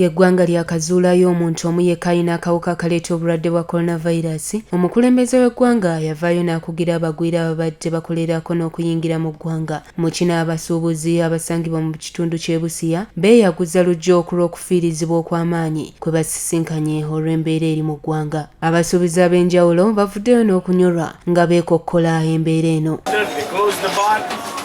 Ng'eggwanga lyakazuulayo omuntu omu yekka alina akawuka akaleeta obulwadde bwa Coronavirus, omukulembeze w'eggwanga yavaayo n'akugira abagwira ababadde bakolerako n'okuyingira mu ggwanga mu kino abasuubuzi abasangibwa mu kitundu ky'e Busia beeyaguza luggya okulw'okufiirizibwa okw'amaanyi kwe basisinkanye olw'embeera eri mu ggwanga. Abasuubuzi ab'enjawulo bavuddeyo n'okunyolwa nga beekokkola embeera eno.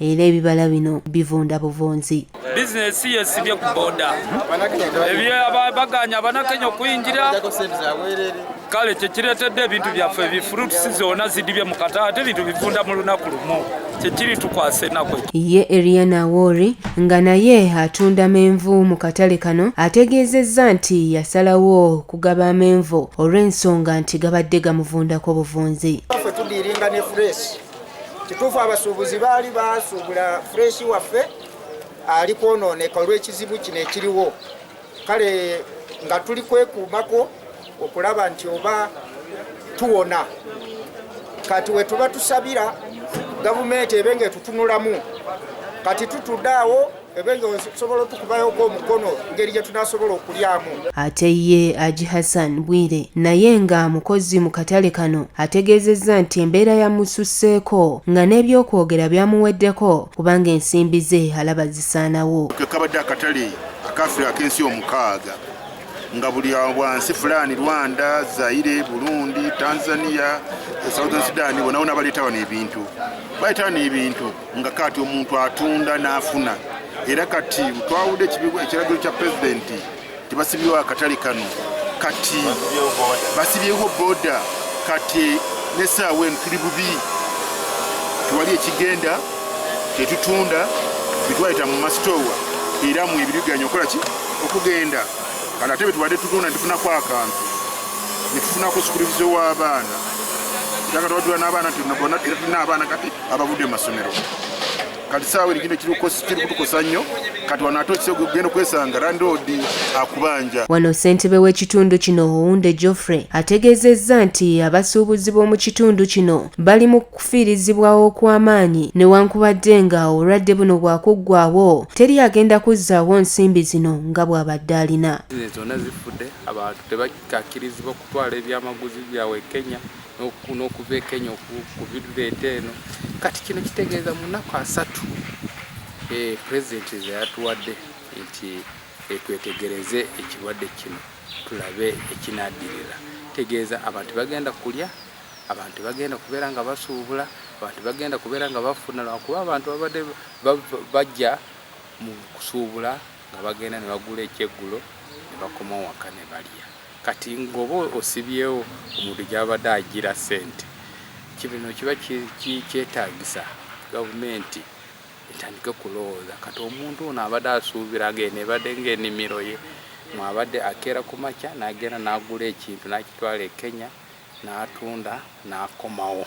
era ebibala bino bivunda buvunzi bizinesi ye sibye ku boda baganya abanakenya okuyingira kale kyekiretedde ebintu byaffe ebifruits zona zidibye mu kata ate ebintu bivunda mu lunaku lumu kyekiri tukwasa enaku ye eriana wori nga naye atunda menvu mu katale kano ategeezezza nti yasalawo okugaba amenvu olw'ensonga nti gabadde gamuvundako buvunzi tudiringa ne fresh Kituufu abasuubuzi baali basuubula fureshi waffe ali kwonooneka olw'ekizibu kino ekiriwo kale nga tuli kwekuumako okulaba nti oba tuwona kati we tuba tusabira gavumenti ebe ng'etutunulamu kati tutudde awo Ate ye Aji Hassan Bwire naye nga mukozi mu katale kano ategeezezza nti embeera yamususseeko nga n'ebyokwogera byamuweddeko kubanga ensimbi ze alaba zisaanawo. Kekabadde akatale akafula ak'ensi omukaaga nga buli wansi fulani rwanda zaire burundi tanzania southern sudan bonawona baleeta wano ebintu baleeta wano ebintu nga kati omuntu atunda n'afuna era kati twawudde ekiragiro kya pulezidenti tebasibyewo akatale kano kati basibyewo boda kati nesaawa eno tuli bubi tewali ekigenda tetutunda bitwayita mu masitowa era mu ebiriganya okola ki okugenda kati ate betubadde tutunda netufunako akantu netufunako sukulubizo w'abaana era kati wajula n'abaana tnabona era tulina abaana kati abavudde mu masomero kati saawa erigino kiri kutukosa nnyo kati wano ate okisa ogenda okwesanga landiroodi akubanja wano ssentebe w'ekitundu kino owunde geoffrey ategeezezza nti abasuubuzi b'omu kitundu kino bali mu kufiirizibwawo okw'amaanyi newankubadde nga obulwadde buno bwakuggwawo teri agenda kuzzaawo nsimbi zino nga bw'abadde alina zonna zifudde abantu tebakakkirizibwa okutwala ebyamaguzi byabwe kenya n'okuva e Kenya okubireeta eno kati kino kitegeeza mu nnaku asatu eh, pulezidenti ze yatuwadde nti eh, twetegereze ekirwadde kino tulabe ekinaaddirira tegeeza abantu bagenda kulya abantu bagenda kubeera nga basuubula abantu bagenda kubeera nga bafuna lwakuba abantu babadde bajja mu kusuubula nga bagenda ne bagula ekyeggulo ne bakoma waka ne balya Kati ngoba osibyewo omuntu gyabadde ajjira ssente kibino kiba kyetagisa gavumenti etandike kulowooza kati omuntu ono abadde asuubira nga eno ebadde nga enimiro ye mwabadde akeera ku makya nagenda nagula ekintu nakitwala e Kenya natunda nakomawo.